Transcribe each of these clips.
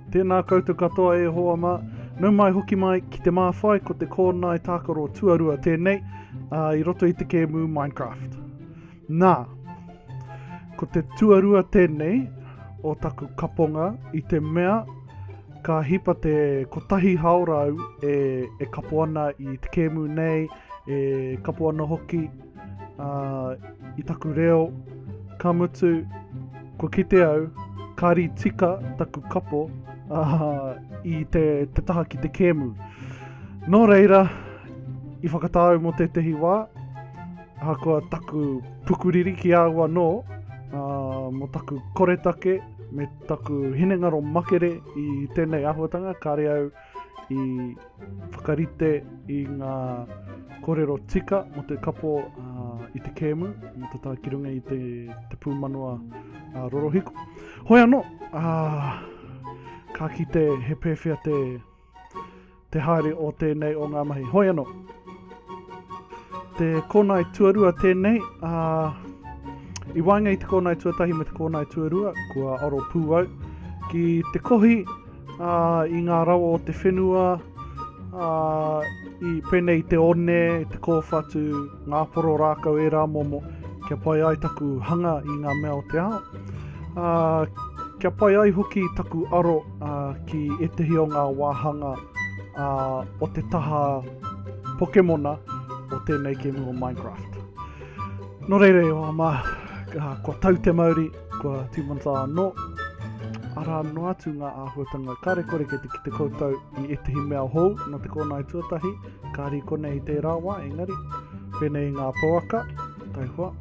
Tēnā koutou katoa e hoa mā. Nau mai hoki mai ki te māwhai ko te kōnae tākaro tuarua tēnei ā, i roto i te kēmu Minecraft. Nā, ko te tuarua tēnei o taku kaponga i te mea ka hipa te kotahi hao rau e, e kapo ana i te kēmu nei, e kapo ana hoki Uh, I taku reo, ka mutu, ko kite au, ka ri tika taku kapo uh, i te, te taha ki te kēmu. Nō reira, i whakatāu mō tētehi wā, hakoa taku pukuriri ki au anō, uh, mō taku koretake, me taku hinengaro makere i tēnei ahuatanga, kāre au, uh, i whakarite i ngā korero tika mo te kapo uh, i te kēmu, mo te tākirunga i te, te pūmanawa uh, rorohiko. Hoi anō, uh, ka kite he pēwhea te, te haere o tēnei o ngā mahi. Hoi anō, te kōnai tuarua tēnei, uh, i waenga i te kōnai tuatahi me te kōnai tuarua, kua aro pū au, ki te kohi ā, i ngā rawa o te whenua, ā, i pēnei te one, te kōwhatu, ngā poro rākau ērā momo, kia pai ai taku hanga i ngā mea o te ao. Ā, kia pai ai hoki taku aro ā, ki ētehi o ngā wāhanga ā, o te taha Pokemona o tēnei kēmu o Minecraft. Nō reira e wā mā, kua tau te mauri, Kua tīmata anō, ara anō atu ngā āhuatanga kāre kore ki te kite koutou i ētahi mea hou no te kōnae tuatahi, kāri konei i tērā wā, engari, pēnei i ngā pouaka, taihua.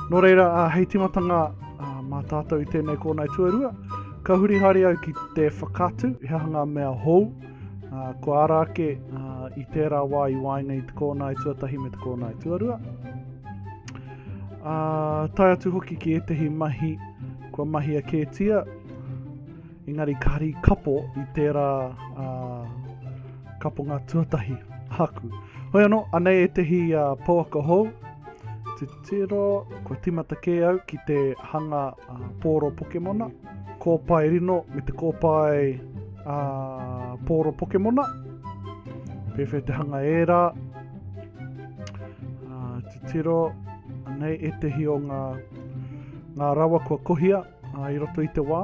Nō reira, a, hei tīmatanga a, mā tātou i tēnei kōnae tuarua, ka huri hari au ki te whakatu, he aha ngā mea hou, a, ko ara ake a, i tērā wā i waenga i te kōnae tuatahi me te kōnae tuarua. Ā, tae atu hoki ki ētahi mahi kua mahia kētia, engari ka hari kapo i tērā ā, kaponga tuatahi aku. Hoi anō, anei ētahi ā, pouaka hou, te tiro, kua timata kē au ki te hanga ā, pōro Pokemona, kōpae rino me te kōpae ā, pōro Pokemona, pēwhea te hanga ērā, Tiro, anei etehi o ngā, ngā rawa kua kohia uh, i roto i te wā.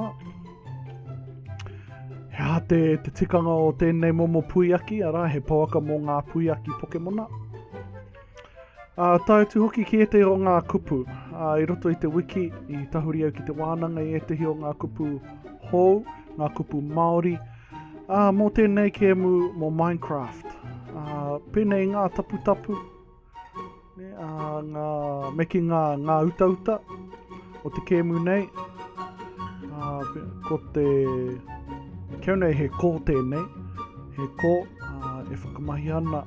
He aha te, te tikanga o tēnei momo puiaki, arā he pouaka mō ngā puiaki Pokemona. Uh, tae atu hoki ki ētehi o ngā kupu. Uh, I roto i te wiki, i tahuri au ki te wānanga i ētehi o ngā kupu hou, ngā kupu Māori, uh, mō tēnei kēmu mō Minecraft. Uh, pēnei ngā taputapu, Ne, a, ngā, me ki ngā, ngā utauta o te kēmu nei. A, ko te, keu nei he kō tēnei, he kō a, e whakamahi ana,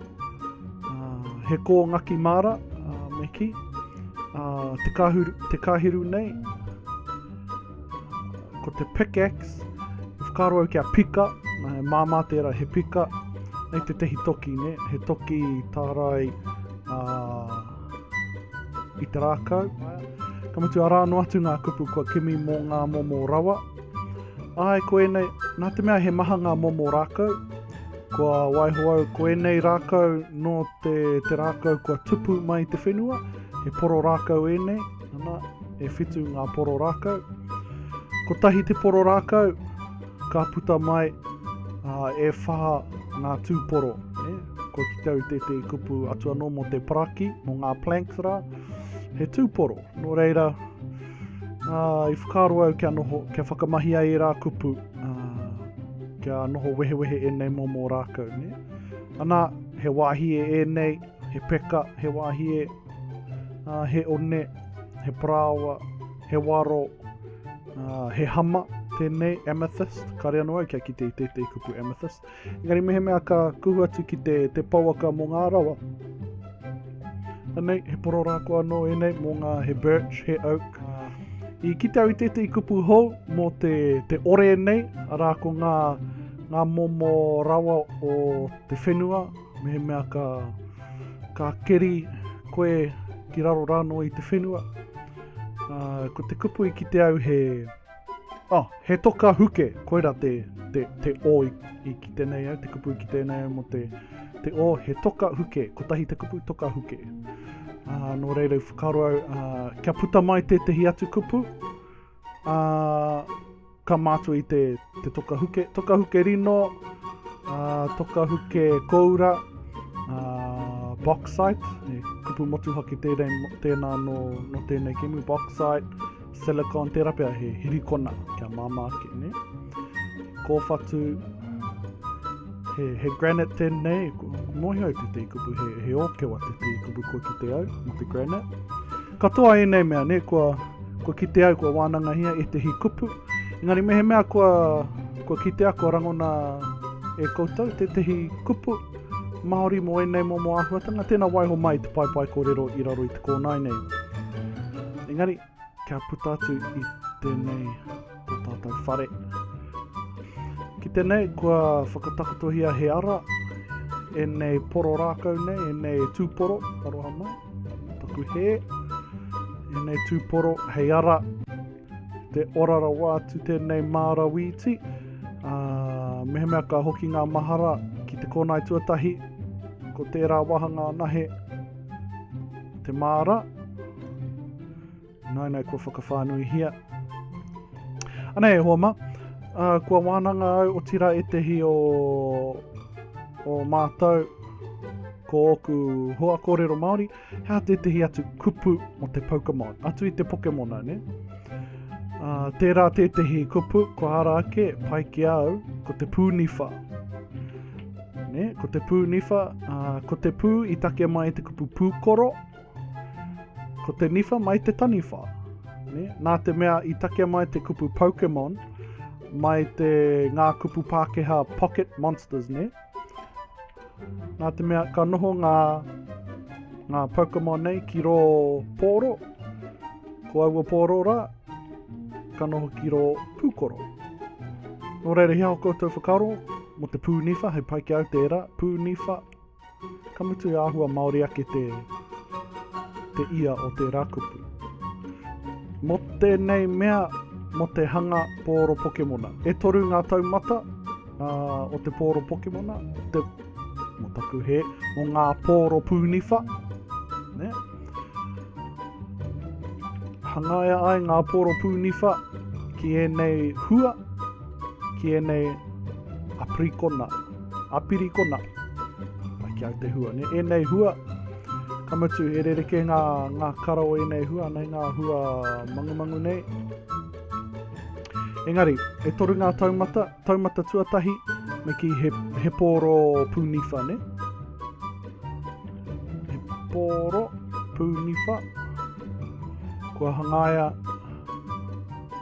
a, he kō ngaki māra, a, me ki, a, te, kahiru, te kahiru nei, Ko te pickaxe, i whakaaro au kia pika, nā he māmā tērā he pika, nei te tehi toki, ne? he toki tārai uh, i te rākau. Ka mutu arā no atu ngā kupu kua kimi mō ngā momo rawa. Ai, ko ēnei, nā te mea he maha ngā momo rākau, kua waiho au, ko ēnei rākau no te, te rākau kua tupu mai te whenua, he poro rākau ēnei, Ana, e whitu ngā poro rākau. Kotahi te poro rākau, ka puta mai uh, e whā ngā tūporo. Eh? Ko ki tau te te kupu atu anō mō te paraki, mō ngā planks rā, he tūporo. Nō reira, uh, i whakaaro au kia, noho, kia whakamahi ai e rā kupu, uh, kia noho wehewehe e nei mō mō rākau. Ne? Ana, he wāhi e e nei, he peka, he wāhie, ā, he one, he parāoa, he waro, ā, he hama, tēnei, amethyst, kāre anō au kia kite i tētei kupu amethyst. Engari mehemea ka kuhu atu ki te, te pouaka mō ngā rawa, Anei, he pororako anō ēnei mō ngā he birch, he oak. I kite au i tētei kupu hou mō te, te ore nei, arā ko ngā, ngā momo rawa o te whenua, Mehemea ka, ka keri koe ki raro rāno i te whenua, uh, ko te kupu i ki te au he, oh, he toka huke, koira te, te, te o i, i ki tēnei au, te kupu i ki tēnei au mo te, te o, he toka huke, kotahi te kupu toka huke. Uh, nō reira i whakaro au, uh, kia puta mai tētahi atu kupu, uh, Ka mātua i te, te toka huke, toka huke rino, uh, toka huke koura, uh, bauxite, e kupu motuhake tēnei, tēnā no, no tēnei kemu, bauxite, silicon, tērā pia he hirikona kia māmā ake, ne? Kōwhatu, he, he granite tēnei, mohi au te te kupu, he, he ōkewa te te kupu kua ki te au, mo te granite. Katoa ēnei mea ne, kua, kua kite au kua wānangahia ētehi kupu, engari mehemea kua, kua kitea, kua rangona e koutou tētehi kupu Māori mō ēnei momo āhuatanga, tēnā waiho mai te paepae kōrero i raro i te kōnae nei. Engari, kia puta atu i tēnei. o tātou whare. Ki tenei, kua whakatakotohia he ara e nei poro rākau nei, e nei tūporo, aroha mai, taku he, e nei tūporo, hei ara, te ora rawa atu tēnei māra wīti, uh, ah, mehemea ka hoki ngā mahara ki te kōnai tuatahi, ko tērā wahanga anahe, te māra, Naina kua whakawhānuihia. Ana e hoa ma, uh, kua wānanga au o tira etehi o, o mātou ko ōku hoa kōrero Māori, hea tētehi atu kupu mo te Pokemon, atu i te Pokemona, ne? Uh, tērā tētehi kupu, ko ara ake, pai ki au, ko te pūniwha. Ne? Ko te pūniwha, uh, ko te pū i take mai te kupu pūkoro, Ko te niwha mai te taniwha. Ne? Nā te mea i takea mai te kupu Pokemon, mai te ngā kupu Pākehā Pocket Monsters, ne? Nā te mea ka noho ngā, ngā Pokemon nei ki rō pōro, ko aua pōro rā, ka noho ki rō pūkoro. Nō reira, hea o koutou whakaro, mo te pūniwha, hei pai ki au tērā, pūniwha, Ka mutu he āhua Māori ake te, te ia o tērā kupu. Mō tēnei mea, mō te hanga pōro Pokemona. E toru ngā taumata uh, o te pōro Pokemona, te, mō taku he, mō ngā pōro pūniwha. Ne? Hangaia ai ngā pōro pūniwha ki ēnei hua, ki ēnei aprikona. A Pirikona. Ai ki au te hua. Ne, enei hua, ka mutu, he rereke nga, nga kara o enei hua, nei nga hua mangumangu nei. Engari, e toru nga taumata, taumata tuatahi, me ki he, he pōro pūniwha, ne? He pōro pūniwha, kua hangaia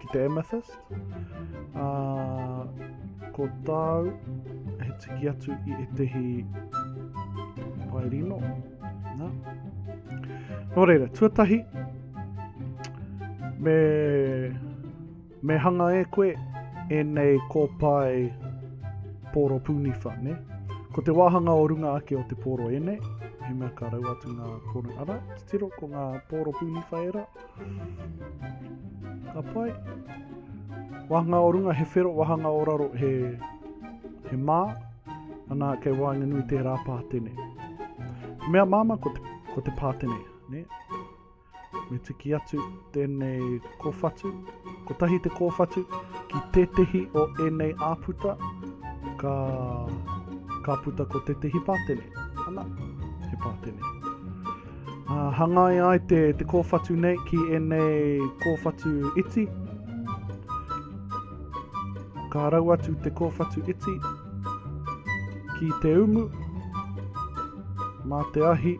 ki te amethyst. Ā, ko tāu, he tiki atu i etehi pae rino. Nā. Nō reira, tuatahi, me, me hanga e koe e nei kōpae pōro pūniwha, ne? Ko te wāhanga o runga ake o te pōro e nei, he mea ka rau atu ngā pōro ara, tiro ko ngā pōro pūniwha e rā. Ka pai. Wāhanga o runga he whero, wāhanga o raro he, he mā. Ana kei waenganui tērā pātene. Mea māma ko te, ko te pātene, ne? Me tiki atu tēnei kōwhatu. Ko tahi te kōwhatu ki tētehi o ēnei āputa ka, ka puta ko tētehi pātene. Ana, he pātene. Uh, hangai ai te, te kōwhatu nei ki ēnei kōwhatu iti. Ka rau atu te kōwhatu iti ki te umu. Mā te ahi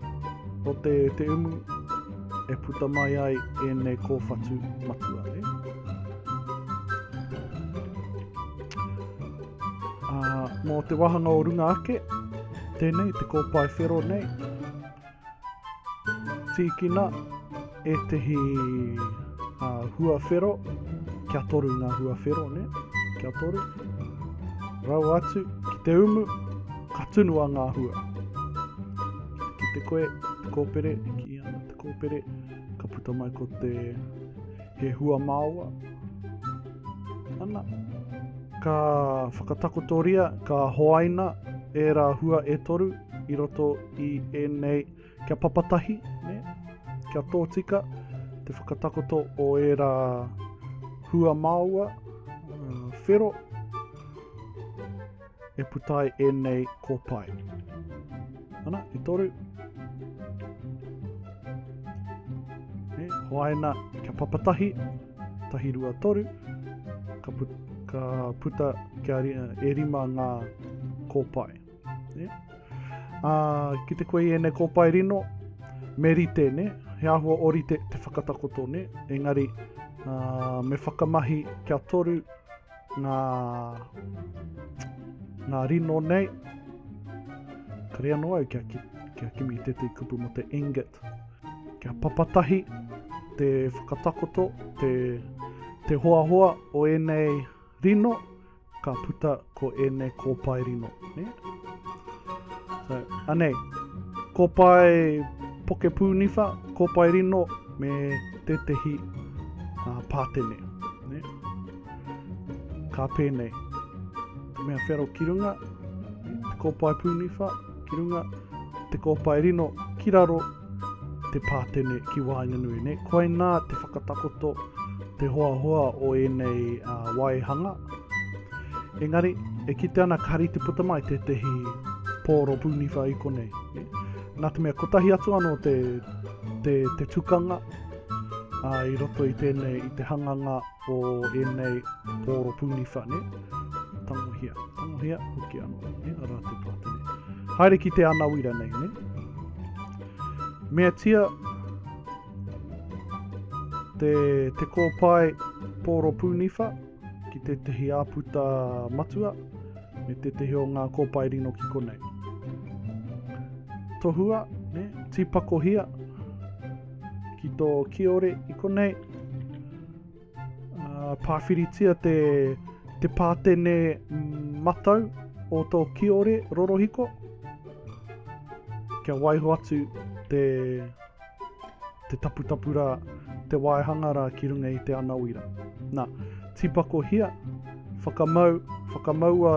o te, te umu e puta mai ai ēnei kōwhatu matua. Eh? Uh, mō te wahanga o runga ake, tēnei te kōpae whero nei, Tīkina ētehi uh, huawhero, kia toru ngā huawhero, ne? kia toru. Rau atu ki te umu, ka tunua ngā hua. Ki te koe, te kōpere, ki ana te kōpere, ka puta mai ko te he hua māua. Ana, ka whakatakotoria, ka hoaina e rā hua e toru, i roto i ēnei kia papatahi, ne? kia tōtika te whakatakoto o ērā hua māua, uh, whero, e putai ēnei kōpae. Ana, e toru. E, hoaina, kia papatahi, tahi rua toru, ka, put, ka puta kia, e rima ngā kōpae. Ne? Ā, ki te koe i ēnei kōpae rino, me rite, ne? He āhua o rite te whakatakoto, ne? Engari, ā, me whakamahi kia toru ngā, ngā rino nei. Kare anō au kia, ki, kia kimi tētai kupu mo te ingot. Kia papatahi te whakatakoto, te, te hoahoa o ēnei rino, Ka puta ko ēnei kōpae rino. Ne? So, anei, kōpae poke pūniwha, kōpae rino, me tētehi uh, pātene. Ne? Ka pēnei, te mea whero ki runga, te kōpae pūniwha ki runga, te kōpae rino ki raro, te pātene ki waenganui nei. Koinā te whakatakoto, te hoahoa o ēnei uh, waihanga. Engari, e kite ana ka rite puta mai tētehi pōro pūniwha i konei. Eh? Nā te mea kotahi atu anō te, te, te tukanga uh, i roto i tēnei, i te hanganga o ēnei pōro pūni whane, tangohia, tangohia, hoki anō, ne, a rā te pātene. Haere ki te anawira nei, ne? Mea tia, te, te kōpae pōro pūniwha ki te tehi āputa matua, me te tehi o ngā kōpae rino ki konei. Tohua, ne, tīpakohia ki tō kiore i konei, Uh, pāwhiritia te, te pātene matau o tō kiore rorohiko. Kia waiho atu te, te taputapu rā, te waehanga rā ki runga i te anawira. Nā, tipako hia, whakamau, whakamaua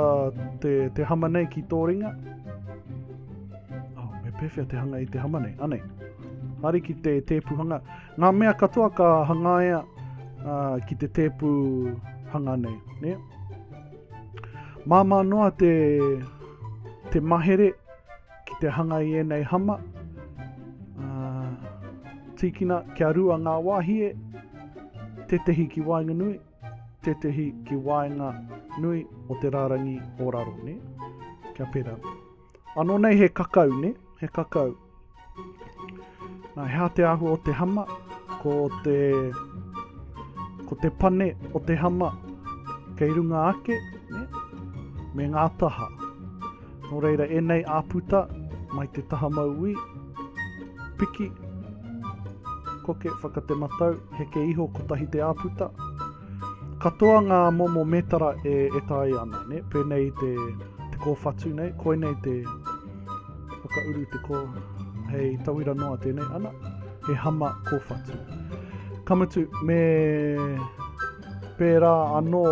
te, te hama nei ki tō ringa. Oh, me pēwhea te hanga i te hama nei, anei. Hari ki te tēpuhanga, Ngā mea katoa ka hangaia uh, ki te tēpu hanga nei. Ne? Māmā noa te, te mahere ki te hanga i ēnei hama. Uh, tīkina kia rua ngā wāhie, tētehi ki waenganui, tētehi ki waenga nui o te rārangi o raro. Ne? Kia pera. Ano nei he kakau, ne? He kakau. Na, he te ahua o te hama, ko te, ko te pane o te hama kei runga ake, ne? me ngā taha. Nō reira, enei āputa mai te taha mauī, piki, koke, whakatematau, heke iho, kotahi te āputa, Katoa ngā momo mētara e taea ana, nē? Pēnei i te, te kōwhatu nei, koinei te whakauru te kō, hei tauira noa tēnei, ana, he hama kōwhatu. Ka mutu, me pērā anō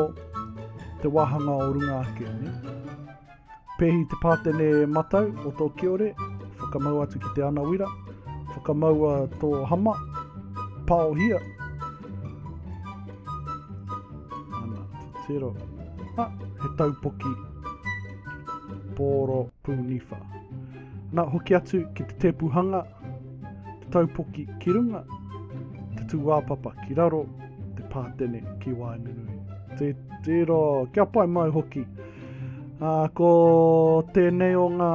te wāhanga o runga ake, nē? Pehi te pātene matau o tō kiore, whakamau atu ki te anawira, whakamaua tō hama, paohia. Ana, tero. Ha, he taupoki, pōro pūniwha. Nā, hoki atu ki te tēpuhanga, te taupoki ki runga, te tūāpapa ki raro, te pātene ki waenganui. Te tero, kia pai mai hoki. Uh, ko tēnei o ngā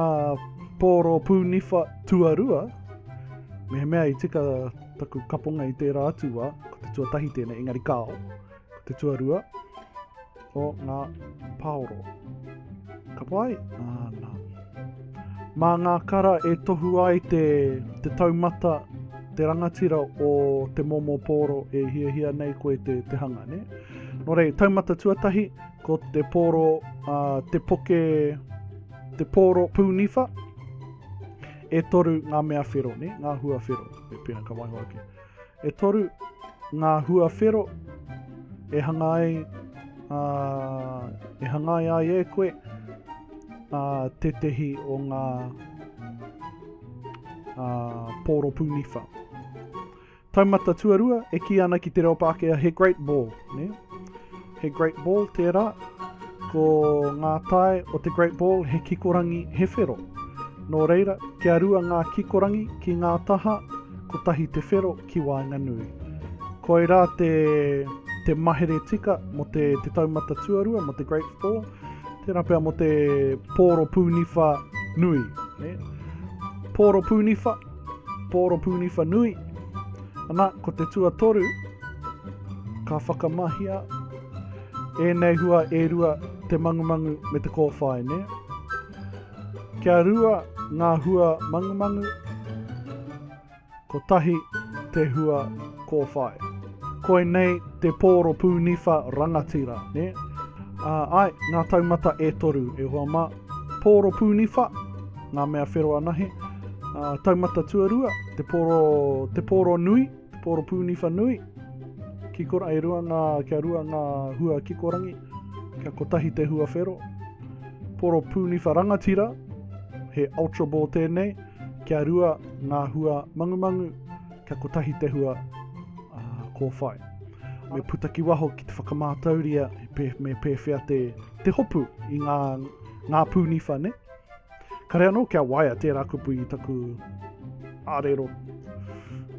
pōro pūniwha tuarua, me mea i tika taku kaponga i tērā atu wā, ko te tuatahi tēnei, engari kāo, ko te tuarua o ngā pāoro. Ka pai? Āna. Mā ngā kara e tohu ai te, te taumata, te rangatira o te momo pōro e hiahia nei koe te, te hanga, ne? Nō rei, taumata tuatahi, Ko te pōro, uh, te poke, te pōro pūniwha, e toru ngā mea whero, ne? ngā hua whero, e pēna ka waiho ake. E toru ngā hua whero e hanga ai, uh, e hanga ai ai e koe uh, tētehi o ngā uh, pōro pūniwha. Taumata tuarua e kī ana ki te reo Pākehā he great ball, ne? He great ball tērā, ko ngā tae o te great ball he kikorangi he whero. Nō reira, kia rua ngā kikorangi ki ngā taha, kotahi te whero ki waenganui. Koirā te, te mahere tika mō te, te taumata tuarua, mō te great ball, tērā pea mō te pōro pūniwha nui, ne? Pōro pūniwha, Poropūniwha nui, ana, ko te tuatoru, ka whakamahia ēnei hua e rua, te mangumangu me te kōwhai, nē? Kia rua ngā hua mangumangu, kotahi te hua kōwhai. Koinei te poropūniwha rangatira, nē? Ā, ai, ngā taumata e toru, e hoa mā. Pōro pūniwha, ngā mea whero anahe. Taumata tuarua, te pōro, te pōro nui, te pōro pūniwha nui. Kikora, e rua ngā, kia rua ngā hua kikorangi, kia kotahi te hua whero. Pōro pūniwha rangatira, he ultra ball tēnei, kia rua ngā hua mangumangu, kia kotahi te hua uh, kōwhai. Me puta ki waho ki te whakamātauria, me pēwhea te, te hopu i ngā, ngā pūniwha ne. Kare anō kia waia tērā kupu i taku arero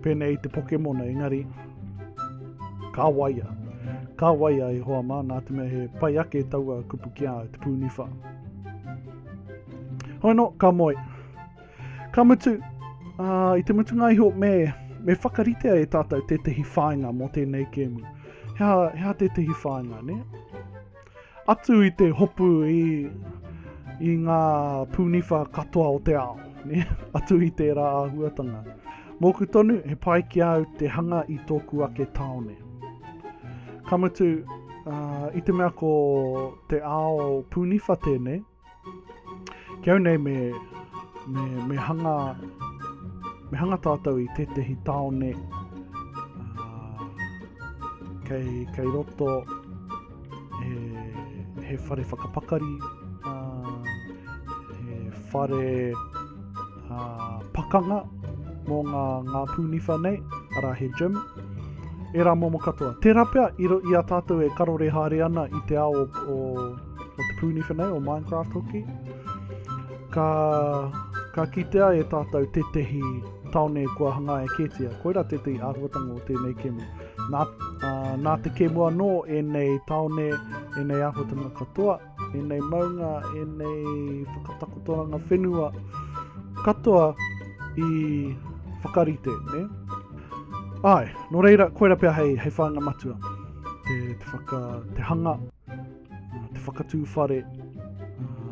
pēnei te Pokemona, engari ka waia. Ka waia e hoa mā, nā te mea he pai ake taua kupu ki a te pūniwha. Hoi no, ka moe. Ka mutu, uh, i te mutunga iho me, me whakaritea e tātou tētahi whāinga mō tēnei kēmu. Hea, hea tētahi whāinga, ne? Atu i te hopu i, i ngā pūniwha katoa o te ao, ne? atu i tērā āhuatanga. Mōku tonu, he pai ki a au te hanga i tōku ake tāone. Ka mutu, uh, i te mea ko te ao pūniwha tēnei, Ki au nei me, me, me hanga, me hanga tātou i tētehi tāone uh, kei, kei roto he, he whare whakapakari, uh, he whare uh, pakanga mō ngā, ngā pūniwha nei, ara he gym, e rā momo katoa. Tērā pea i, i a tātou e karore haere ana i te ao o, o o te pūni whenei, o Minecraft hoki, ka, ka kitea e tātou tētehi taone kua hangaia kētia. Koira tētehi āhuatanga o tēnei kēmu. Nā, uh, nā te kēmu anō ēnei taone, ēnei āhuatanga katoa, ēnei maunga, ēnei whakatakotoranga whenua katoa i whakarite, ne? Ai, nō reira, koira pia hei, hei whāinga matua, te, te, whaka, te hanga te whakatū whare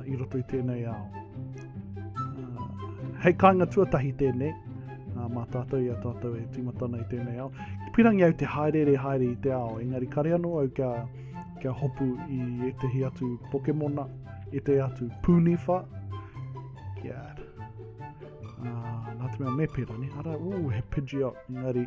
i roto i tēnei ao. Hei kāinga tuatahi tēnei, mā tātou i a tātou e tīmatana i tēnei ao. Pirangi au te haerere haere i te ao, engari kare anō au kia, kia hopu i ētehi atu Pokemona, i te atu Punifa, kia uh, nā te mea me pera, ne? Ara, uu, he Pidgeot, engari,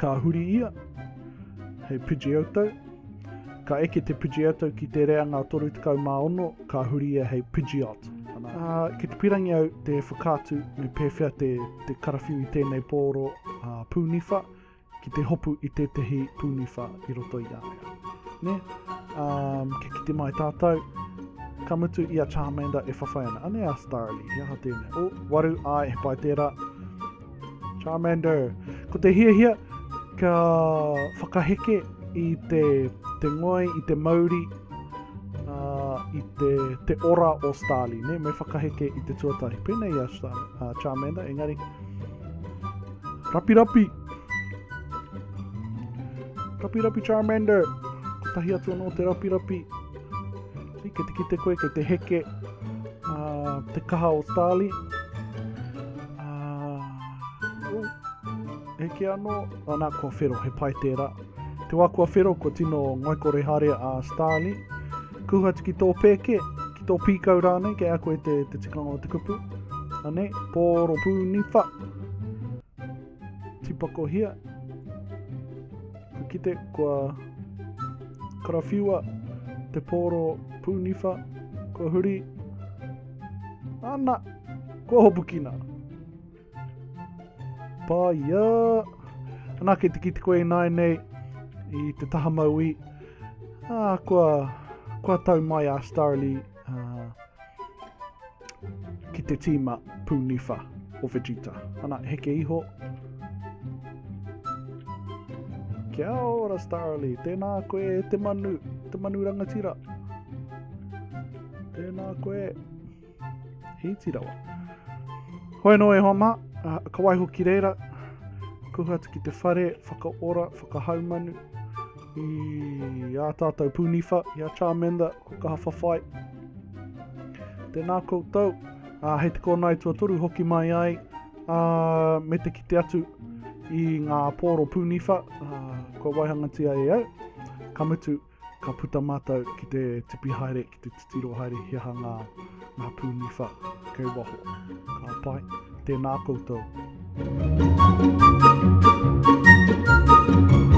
Ka huri ia, he Pidgeotto. Ka eke te Pidgeotto ki te reanga 36, ka huri ia hei Pidgeot. Uh, ki te pirangi au te whakaatu me pēwhea te, te karawhiu i tēnei pōro uh, pūniwha ki te hopu i tētahi pūniwha i roto i a ea. Ne? Um, kia kite mai tātou, ka mutu i a Charmander e whawhai ana. Ane a Starly, he aha tēnei? O, waru, ai, he pai tērā. Charmander. Ko te hiahia, kia whakaheke i te, te ngoi, i te mauri, uh, i te, te ora o Starly, ne? me whakaheke i te tuatahi. Pēnei a Star, uh, Charmander, engari. Rapi rapi! Rapi rapi Charmander! Ko tahi atu anō te rapi rapi. Kei te kite koe, kei te heke uh, te kaha o Tali. Uh, heke anō, anā kua whero, he pai tērā. Te wā kua whero, kua tino ngoikore hare a Starly. Kuha ki tō pēke, ki tō pīkau rānei, kei a koe te, te tikanga o te kupu. Anei, pōro pū niwha. Tipakohia, Ka kite kua karawhiua te pōro pūniwha, kua huri, ana, kua hopukina. Pāia, Anā, kei te kite koe nāi nei i te taha mauī, ā, kua, kua tau mai a Starlee. Uh, ki te tīma pūniwha o Vegeta. Ana, heke iho. Kia ora, Starly. Tēnā koe, te manu. Te manu rangatira. Tēnā koe. Hīti rawa. Hoi no e hoa mā. Uh, ka waiho ki reira. Kuhu atu ki te whare, whakaora, whakahaumanu. I a tātou pūniwha, i a Charmander, ko kaha whawhai. Tēnā koutou, uh, hei te kōna i tuatoru hoki mai ai, uh, me te kite atu i ngā pōro pūniwha, uh, kua waihangatia e au. Ka mutu, ka puta mātou ki te tipi haere, ki te titiro haere, he aha ngā, ngā pūniwha kei waho. Ka pai, tēnā koutou. Thank you.